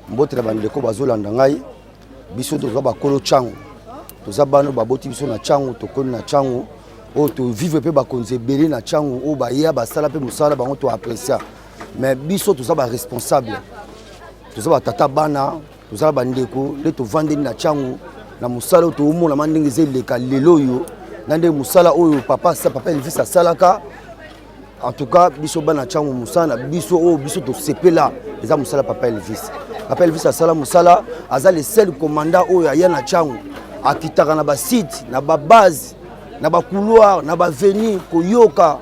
mbote na bandeko bazolanda ngai biso toza bakolo ntango toza bana baboti biso na ntango tokoli na ntango oyo tovivre mpe bakonzi ebele na ntango oyo baya basala mpe mosala bango toaprecia mais biso toza baresponsable toza batata bana toza bandeko nde tovandeli na ntango na mosala oyo toomonama ndenge eza eleka lelo oyo na ndenge mosala oyo papa papa elvis asalaka En tout cas, biso bana changu musana, biso oh biso to sepela, eza musala papa Elvis. Papa Elvis asala musala, aza le seul commandant oyo aya na changu, akitaka na ba site, na ba base, na ba couloir, na ba venue koyoka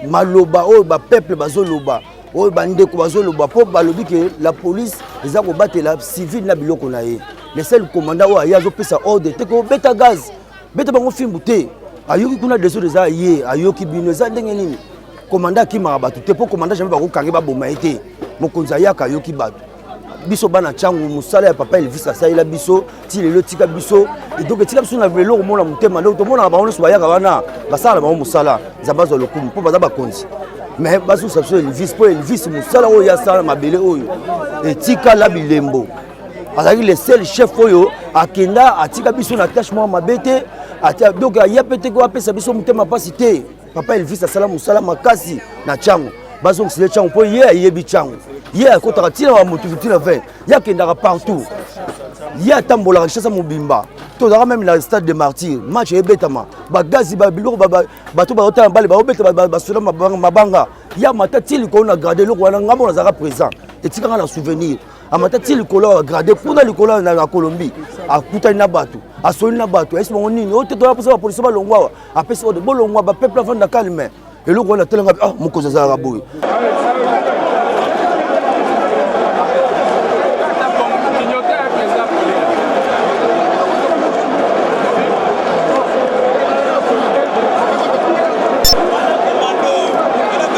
maloba oyo ba peuple bazoloba oyo bandeko bazoloba mpo balobi ke la police eza kobatela civile na biloko na ye le seul commandant oyo aye azopesa ordre te kobeta gaz beta bango fimbu te ayoki kuna desord eza ye ayoki bino eza ndenge nini komanda akimaka bato te mpo komanda jamai bakokange baboma ye te mokonzi ayaka ayoki bato biso bana ntango mosala ya papa elvis asalela biso ti lelo etika biso donc etika biso na lelo komona motema donc tomonaka bango nyonso bayaka wana basala na bango mosala nzambe azwa lokumu mpo baza bakonzi mais bazusa biso elvis mpo elvis mosala oyo asala na mabele oyo etikala bilembo azalaki le seul chef oyo akenda atika biso na tâche moko mabe te donc aya mpe te ko apesa biso motema mpasi te papa elvis asala mosala makasi na ntango bazongisile ntango mpo ye ayebi ntango ye akotaka ntina wa moto ntina 20 ye akendaka partout ye atambolaka kinshasa mobimba tozalaka meme na stade de martyr match ebetama bagazi biloko bato baotala bale baobeta basoda mabanga ya mata ti likolo na grade eloko wana ngambo nazalaka présent etikanga na souvenir amata ti likolo ya grade kuna likolo na colombie akutani na bato asoli na bato ayesi bango nini oyo te toya mposa bapolisi balongwa awa apesi ode bolongwa bapeuple avanda calme eloko wana telanga ah mokonzi azalaka boye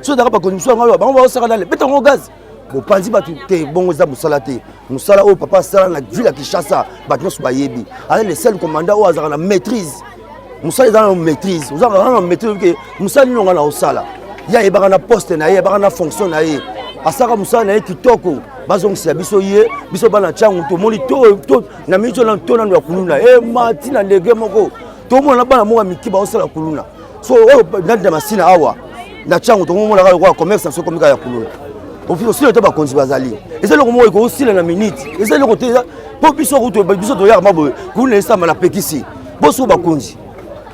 soki ezalaka bakonzi mosusu yango bango baosaka nale beta yango gaz bopanzi bato te bongo eza mosala te mosala oyo papa asala na ville ya kinshasa bato nyonso bayebi aza le seul commandant oyo azalaka na maîtrise mosala eza na maîtrise ozaka na maîtrise ke mosala nini onga na osala ye ayebaka na poste na ye ayebaka na fonction na ye asalaka mosala na ye kitoko bazongisela biso ye biso bana ntango tomoni na miniti oyo to nano ya kuluna emati na ndege moko tomona na bana moko ya mike baosala kuluna so oyo nandi na masina awa na ntango tokomonaka lokola commerce na so komika ya kuluna osila te bakonzi bazali eza eloko moko ekosila na minute eza eloko te mpo biso kutu biso toyaka maboye kuluna esamba na pekisi boso bakonzi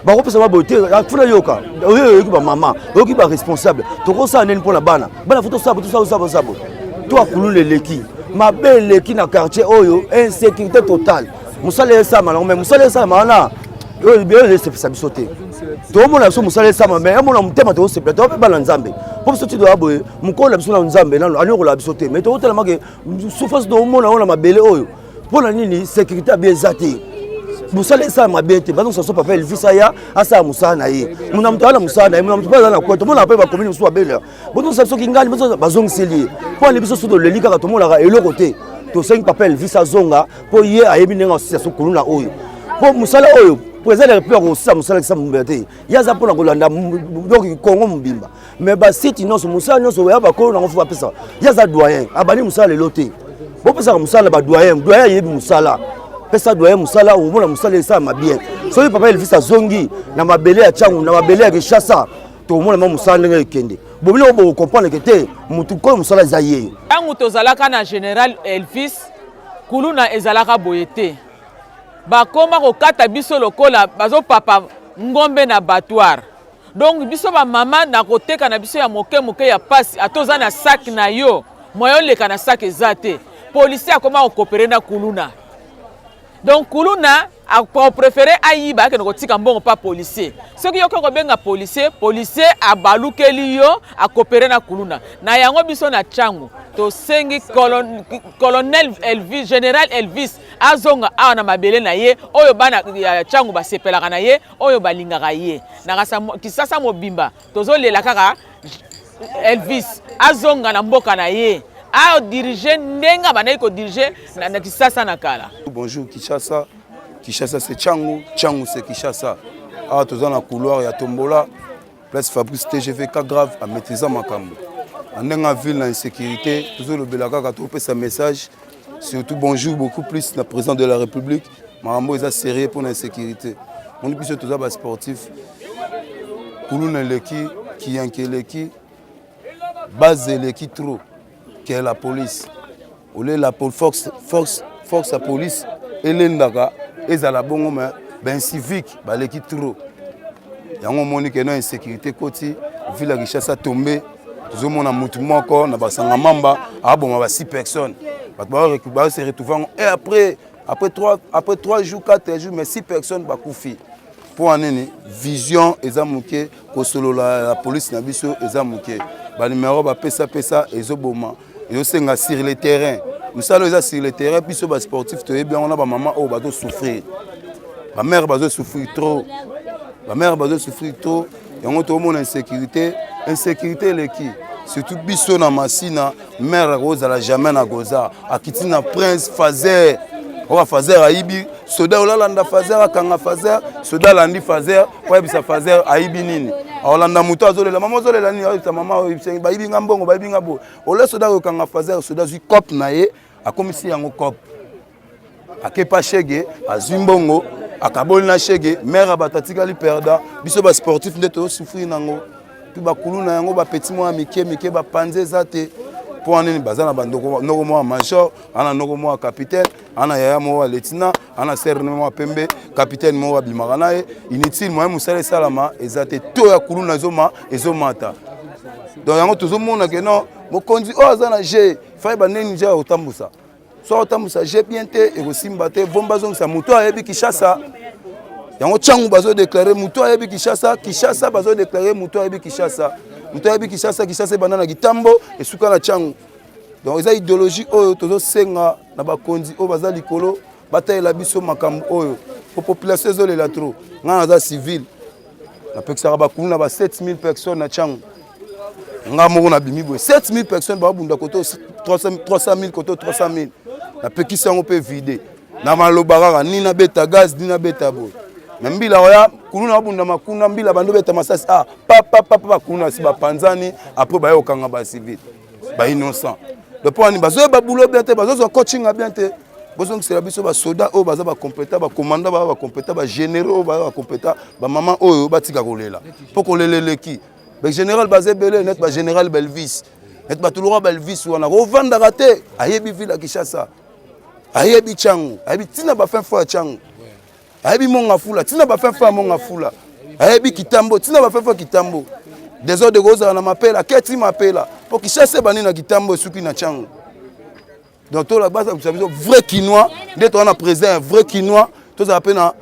bakopesa maboye te funa yoka oyo oyoki bamama oyoki baresponsable tokosala nini mpo na bana bana fo tosabo tosabo sabo sabo to akuluna eleki mabe eleki na quartier oyo insécurité totale mosala esalama nango me mosala esalama wana oyo ezosepelisa biso te toomona biso mosala esama mai amona motema tokosepela toa mpe bana nzambe mpo biso tidoya boye mokolo na biso na nzambe nano aliokola biso te mai tokotalamake sufasi toomona oyo na mabele oyo mpo na nini sécurité abi eza te mosala esala mabe te bazo soso papa elvis aya asala mosala na ye mona moto aza na mosala na ye mona moto mpe aza na kweto mona mpe bakomini mosusu babele bozongisa biso kingali bazongiseli ye mpo ale biso so toleli kaka tomonaka eloko te tosengi papa elvis azonga mpo ye ayebi ndenge asisa so kuluna oyo mpo mosala oyo mpo eza leke mpe akosala mosala kisa mobimba te ye aza mpo na kolanda donc kongo mobimba mais basiti nyonso mosala nyonso ya bakolo nango fo bapesa ye aza doyen abandi mosala lelo te bopesaka mosala na badoyen doyen ayebi mosala pesa doyen mosala omona mosala esalama bien soki papa elvis azongi na mabele ya cangu na mabele ya kinshasa tomona mwa mosala ndenge ekende bobino oyo bokokomprendre ke te motu koyo mosala eza ye ntango tozalaka na général elvis kuluna ezalaka boye te bakoma kokata biso lokola bazopapa ngombe na batoire donc biso bamama na koteka na biso ya moke moke ya mpasi ata oza na saki na yo moya oleka na saki eza te policier akoma kokopere na kuluna donc kuluna akoprefere ayiba akende kotika mbongo mpa policier soki yoki okobenga policier policier abalukeli yo akopere na kuluna na yango biso na ntango tosengi colonel elvis general elvis azonga awa na mabele na ye oyo bana ya ntango basepelaka na ye oyo balingaka ye na kisasa mobimba tozolela kaka elvis azonga na mboka na ye adirige ndenge abandaki kodirige na, na kisasa na kala bonjour kishasa kishasa se changu changu se kishasa awa toza na couloir ya tombola place fabrice tgv ka grave amaîtrisa makambo na ndenge ville na insécurité tozolobela kaka topesa message surtout bonjour beaucoup plus na président de la république makambo eza serieux mpo na insécurité moni biso toza basportif kuluna eleki kiyanki eleki base eleki trop ke la police olie la force, force, force ya police elendaka ezala bongo me baincivique baleki trop yango omoni ke na insécurité koti ville ya kinshasa tombe tozomona motu moko na basanga mamba aboma ba 6 personnes bato baose retrouve yango e après après 3 après 3 jours 4 jours mais 6 personnes bakufi mpo ya nini vision eza moke kosolola ya polise na biso eza moke banumero bapesapesa ezoboma ezosenga sur le terrain mosala eza sur le terrain biso basportif toyebi yango na bamama oyo bazosouffrir bamare bazosouffrir trop bamare bazosouffrir trop yango toomona insecurité insecurité eleki surtout biso na masina mare akozala jamais na goza akiti na prince fazer oka fazer ayibi soda olalanda fazer akanga fazer soda alandi fazer oyebisa fazer ayibi nini aolanda moto azolela mama ozolela nini oyebisa mama oyebisa bayibi nga mbongo bayibi nga boye ole soda oyokanga fazer soda azwi cope na ye akomisi yango cope akepa shege azwi mbongo akaboli na shege mare ya bato atikali perda biso basportif nde tozosouffrir nango mpe bakulu na yango bapeti mwa mike mike bapanzi eza te mpo wana nini baza na banoko mwa major ana noko mwa capitaine ana yaya moko ya letina ana serne mwa pembe capitaine moko abimaka na ye inutile moye mosala esalama eza te to ya kulu na ezoma ezomata donc yango tozomona ke non mokonzi oyo aza na je fai baneni je ya kotambusa soki otambwisa je bien te ekosimba te bomba azongisa moto ayebi kishasa yango ntango bazodeklare moto ayebi kishasa kishasa bazodeklare moto ayebi kishasa moto ayebi kishasa kishasa ebanda na kitambo esuka na ntango donc eza idéologie oyo tozosenga na bakonzi oyo baza likolo batalela biso makambo oyo po population ezolela trop ngai naza civile napekisaka bakulu na ba 7000 personnes na ntango nga moko nabimi boye 7000 personnes babunda koto 300000 koto 300000 napekisi yango mpe vide na maloba kaka ni nabeta gaz ni nabeta boye na mbila oya kulu na babunda makuna mbila bando beta masasi a ah, papapapa kuna si bapanzani apres baye kokanga bacivile bainnocent mpo wani bazoyeba bulo bien te bazozwa coachinga bien te bozongisela biso basoda oyo baza bakompeta bakomanda baza bakompeta bagénéraux oyo baza bakompeta bamama oyo batika kolela mpo kolela eleki ba général baza ebele net ba général belvis net bato lokola belvis wana kovandaka te ayebi ville ya kinshasa ayebi cango ayebi ntina bafin fo ya cango ayebi monga fula ntina bafin fo ya monga fula ayebi kitambo ntina bafin fo ya kitambo desordre kozala na mapela keti mapela mpo kinshasa ebandi na kitambo esuki na cango donc tola basa kusa biso vrai kinois nde toza na président ya vrai kinois tozala mpe na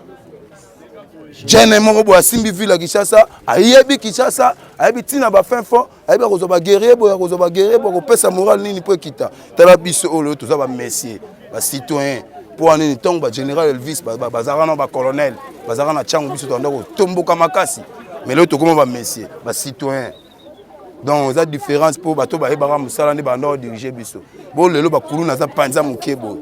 jene moko boye asimbi ville ya kinshasa ayebi kinshasa ayebi ntina bafin fond ayebi akozwa baguerrier boye akozwa baguerrier boye akopesa moral nini mpo ekita tala biso oyo lelo toza bamessie bacitoyen mpo wana nini ntango bagénéral elvis bazalaka na bacolonel bazalaka na ntango biso tanda kotomboka makasi mais lelo tokoma bamessie bacitoyen donc eza différence mpo bato bayebaka mosala nde banda odirige biso bo lelo bakuluna aza mpanza moke boye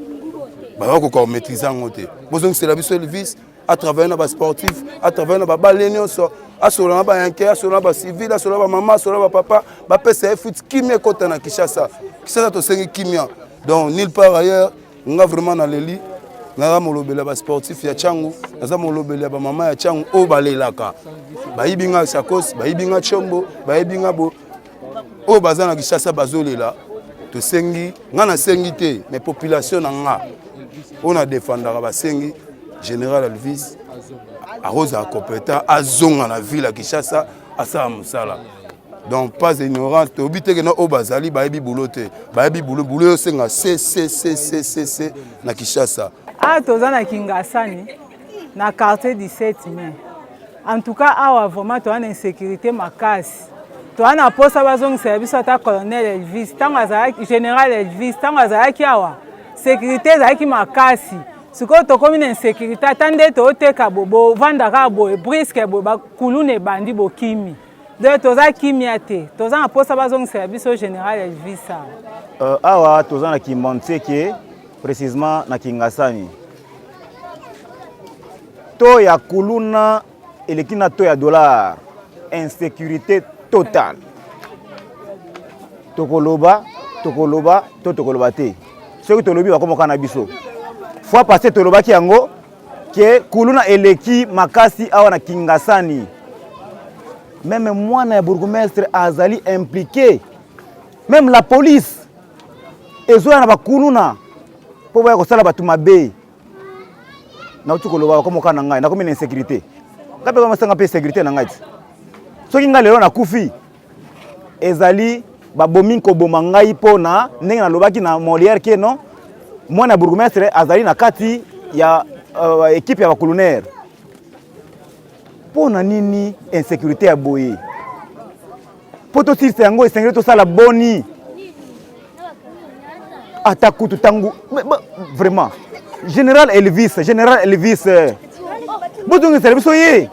baza kokoka komaîtrise yango te bozongisela biso elvis atravaille na basportif atravaille na babale nyonso asolola na bayanke asolola na bacivile asolola na bamama asolola na bapapa bapesa ye futi kimia ekota na kinshasa kinshasa tosengi kimia donc nil part ailleurs nga vraiment naleli naza molobeli ya basportif ya cango naza molobeli ya bamama ya cango oyo balelaka bayibi nga sakos bayibi nga combo bayibi nga bo oyo baza na kishasa bazolela tosengi nga nasengi te mais population na nga oyo na defandaka basengi général alvis akozala compétent azonga na ville ya kishasa asala mosala donc pas ignorant toyebi te kena oyo bazali bayebi bulo te bayebi bulo bulo yo senga ccccc na kinshasa awa ah, toza na kingasani na quartier 17 mai en tout cas awa vraiment toza na insécurité makasi toza na mposa bazongisela biso ata colonel elvis ntango azalaki général elvis ntango azalaki awa sécurité ezalaki makasi sikoyo tokomi na insécurité ata nde tooteka bo bovanda kaka boye briske boye bakuluna ebandi bokimi Donc toza kimia te, toza na posa bazongisela biso général Elvis awa. Euh, awa toza na Kimbanseke précisément na Kingasani. To ya kuluna eleki na to ya dollar, insécurité totale. Tokoloba, tokoloba, to tokoloba te. Soki tolobi bakomoka na biso. Fois passé tolobaki yango ke kuluna eleki makasi awa na Kingasani. Meme mwana ya bourgmestre azali impliqué, meme la police ezoya na bakuluna mpo boya kosala bato mabe. Nauti koloba bakomoka na ngai, nakomi na insécurité ngai mpe bamasanga mpe insécurité na ngai ti soki ngai lelo nakufi ezali babomi nkoboma ngai mpo na ndenge nalobaki na moliere ke non mwana ya bourgmestre azali na kati ya uh, ekipe ya bacolonere mpo na nini insécurité ya boye mpo tosilisa yango esengeli tosala boni ata kutu ntango vraiment général elvis général elvis eh, bozongisela biso ye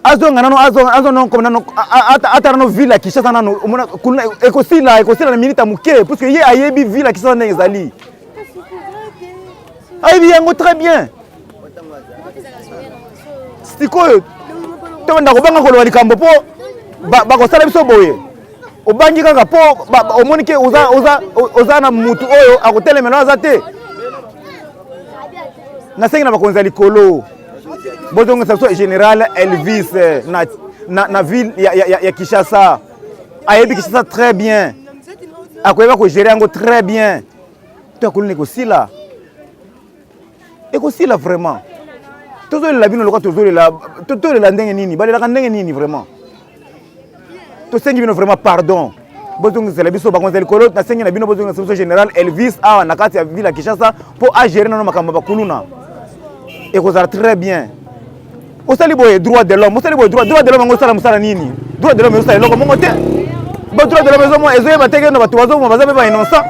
azonga nano azonga azonga nano comme nano ata nano ville ya Kinshasa nano omona kuna ekosila ekosila na minute ya moke puisque ye ayebi ville ya Kinshasa ndenge ezali ayebi yango très bien sikoyo tobanda kobanga koloba likambo mpo bakosala biso boye obangi kaka mpo omoni ke oza na motu oyo akotelemela aza te nasengi na bakonzi ya likolo bozongisa biso général elvis eh, na, na, na ville ya, ya, ya, ya kinshasa ayebi kinshasa très bien akoyeba kogere yango très bien to akolona ekosila ekosila vraiment tozolela bino lokola tozolela tolela ndenge nini balelaka ndenge nini vraiment tosengi bino vraiment pardon bozongisela biso bakonzi ya likolo nasengi na bino bozongisa biso général elvis awa na kati ya ville ya kinshasa mpo agere nano makambo ya bakuluna ekozala très bien osali boye droit de l'homme osali boye droit de l'homme yango osala mosala nini droit de l'homme ezosala eloko moko te ba droit de l'homme ezomo ezoyeba te keno bato bazoboma baza mpe ba innocent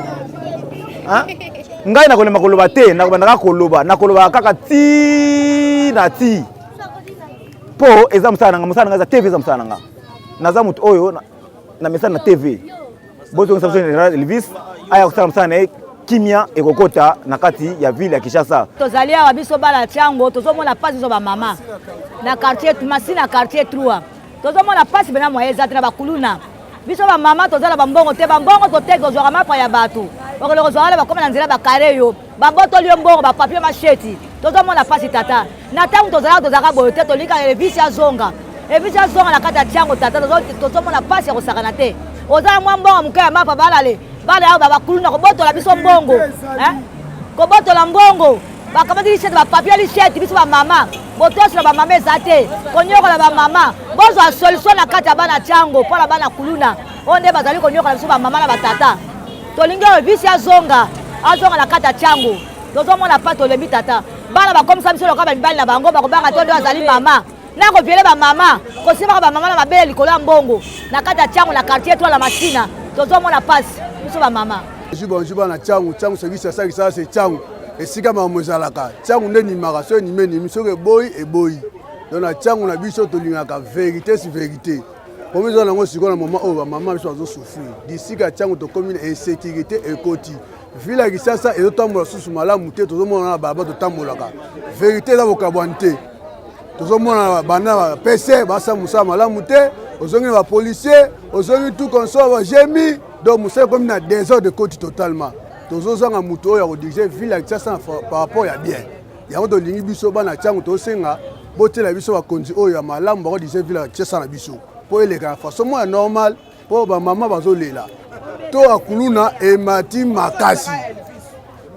ngai nakolemba koloba te nakobandaka koloba nakolobaka kaka ti na ti Po eza musala nanga, musala nanga eza TV eza musala nanga. Naza mutu oyo na, na message na TV. Bozo ngisa bozo na Elvis aya kusala musala na ye kimia ekokota na kati ya ville ya Kinshasa. Tozali awa biso bala chango tozomona pasi zo ba mama na quartier Masi na quartier 3 tozomona pasi bena moye ezate na bakuluna biso bamama tozala bambongo te bambongo toteki ozwaka mapa ya bato okende kozwaka na bakoma na nzela bakare yo babotoli yo mbongo bapapie masheti tozomona mpasi tata na ntango tozalaka tozalaka boye te tolingaka elevisi azonga elevisi azonga na kati ya ntiango tata tozomona mpasi ya kosakana te oza na mwa mbongo moke ya mapa balale bana yao babakuluna kobotola biso mbongo eh? kobotola mbongo bakamati lisete bapapie lisete biso bamama botosola bamama eza te konyokola bamama bozwa solution na kati ya bana ntiango mpo na bana kuluna oyo nde bazali konyokola biso bamama na batata tolingi oyo bisi azonga azonga na kati ya tiango tozomona pa tolembi tata bana bakomisa biso lokola bamibali na bango bakobanga to nde azali mama na koviele bamama kosimbaka bamama na mabele likolo ya mbongo na kati ya tiango na quartier to na masina tozomona mpasi biso bamama bonjour bonjour bana tiango tiango service ya saki sala se tiango esika makambo ezalaka tiango nde enimaka so enimi enimi soki eboyi eboyi donc na tiango na biso tolingaka verité si verité Problème eza nango sikoyo na moment oyo bamama biso bazo souffrir disika ntango tokómi na insécurité ekoti ville ya kisasa ezotambola susu malamu te tozomonana na balaba totambolaka verité eza bokabwani te tozomona bana pese basa mosala malamu te ozongi na bapolicier ozongi tout consort bajemi donc mosala ekomi na désordre ekoti totalement tozozanga moto oyo ya kodirige ville ya kisasa par rapport ya bien yango tolingi biso bana ntango tosenga botyela biso bakonzi oyo ya malamu bakodise vila tiesa na biso mpo eleka na façon moko ya normal mpo bamama bazolela to ya kuluna emati makasi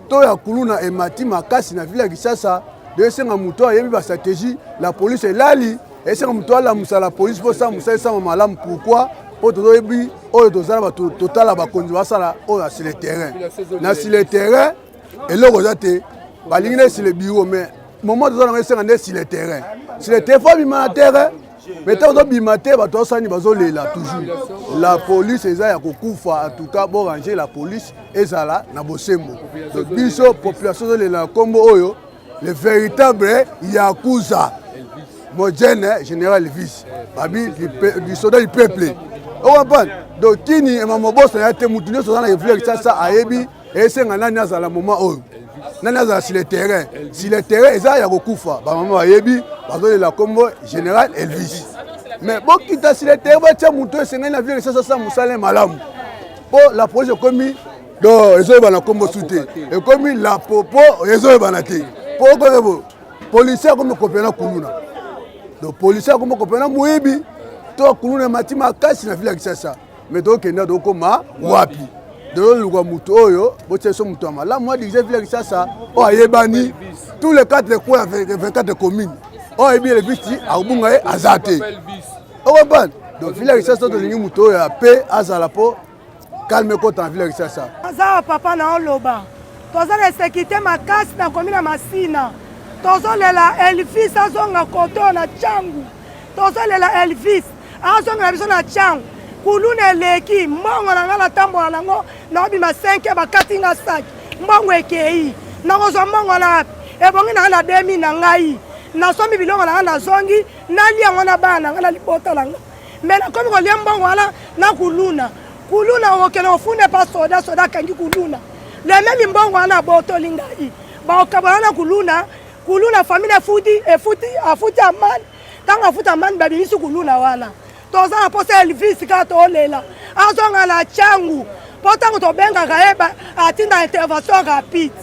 to ya kuluna emati makasi na vila kisasa esenga moto ayebi bastratégie la police elali esenga moto alamusa la police mpo sa mosala esama malamu pourkui mpo tozoyebi oyo tozala bato totala bakonzi basala oyo asile terrain na sile terrain eloko eza te balingi nde sur le bureau mais moment toza nango esenga nde sur le terrain sur le terrain fo abima na terrain mais ntango tobima te bato basani bazolela toujours la police eza ya kokufa en tout cas borange la police ezala na bosembo donc biso population ezolela na nkombo oyo le véritable yakuza mojene général elvis babi lisoda du peuple okomprendre donc kini ema mobosa ya te motu nyonso aza na evule kisasa ayebi esenga nani azala moma oyo nani azala sur le terrain sur le terrain eza ya kokufa bamama bayebi bazolela nkombo général elvis mais bokita sur le terrain batya moto esengeli na vie lisasa sa mosala malamu mpo la projet ekomi do ezoyebana nkombo su te ekomi la popo ezoyebana te mpo okoyebo policier akomi kopela na kuluna donc policier akomi kopela na moyibi to kuluna emati makasi na ville ya kisasa mais tokenda tokoma wapi tozoluka moto oyo botia biso moto ya malamu adirige vile kisasa oyo ayebani tous les quatre coin ya 24 commune oyo ayebi elevisi akobunga ye aza te okompane donc vile kisasa tolingi moto oyo ya pe azala mpo kalme ekota na vile kisasa aza papa na oloba toza na esekite makasi na komi na masina tozolela elvis azonga koto na cangu tozolela elvis azongela biso na changu kuluna eleki mbongo na ngai natambola nango naobima 5 bakati nga saki mbongo ekei nakozwa mbongo na wapi ebongi na ngai na demi na ngai nasombi biloko na ngai nazongi nalia yango na bana na ngai na libota na ngai me nakomi kolia mbongo wana na kuluna kuluna okende ofunda epa soda soda akangi kuluna lememi mbongo wana abotoli ngai baokabwana na kuluna kuluna famile efuti efuti afuti amani ntango afuta mbandi babimisi kuluna wana toza na posa elvis kaka tolela azonga na changu mpo ntango tobengaka ye atinda intervention rapide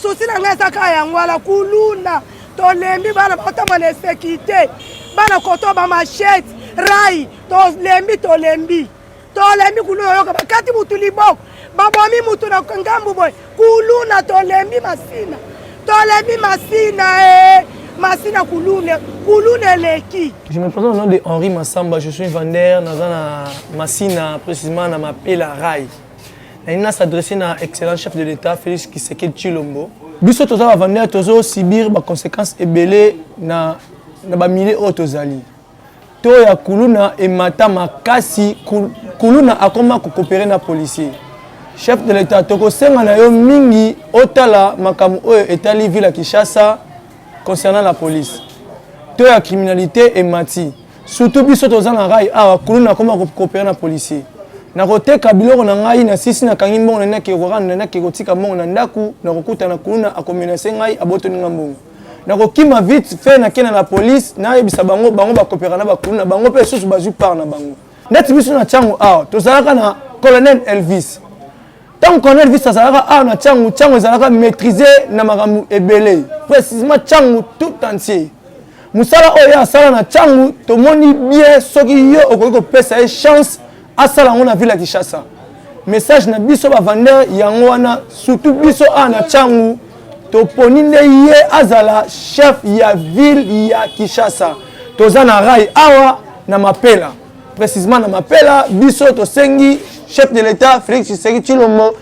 susi na ngai eza kaka yango wana kuluna tolembi bana baotama na esekite bana koto bamashete rai tolembi tolembi tolembi kuluna oyoka bakati mutu liboko babomi mutu na ngambu boye kuluna tolembi masina tolembi masina e eh. masina kuluna kuluna eleki je me présente au nom de henri masamba je suis vendeur naza na masina précisément na mapela rai nalingi na s'adresse na excellent chef de l'état félix kisekedi chilombo biso toza bavandeur tozosibir baconséquence ebele na bamilie oyo tozali to ya kuluna emata makasi kuluna akoma kokopere na policier chef de l'etat tokosenga na yo mingi otala makambo oyo etali ville ya kinshasa concernant la police to ya criminalité emati surtout biso toza na rai awa kuluna akoma kokopere na policier nakoteka biloko na ngai na sisi nakangi mbongo na naki ekoranda naki ekotika mbongo na ndako nakokutana kuluna akomenase ngai abotoni ngai mbongo nakokima vite fait nakenda na police nayebisa bango bango bakopeka na bakulu na bango mpe lisusu bazwi part na bango neti biso na ntango awa tozalaka na colonel elvis ntango colonel elvis azalaka awa na ntango ntango ezalaka maîtrise na makambo ebele précisement ntango tout entier mosala oyo ye asala na ntango tomoni bien soki yo okoki kopesa ye chance asala yango na ville ya kinshasa message na biso bavandeur yango wana surtout biso awa na cangu toponi nde ye azala chef ya ville ya kinshasa toza na rai awa na mapela précisement na mapela biso tosengi chef de l'état félix tshisekedi tshilombo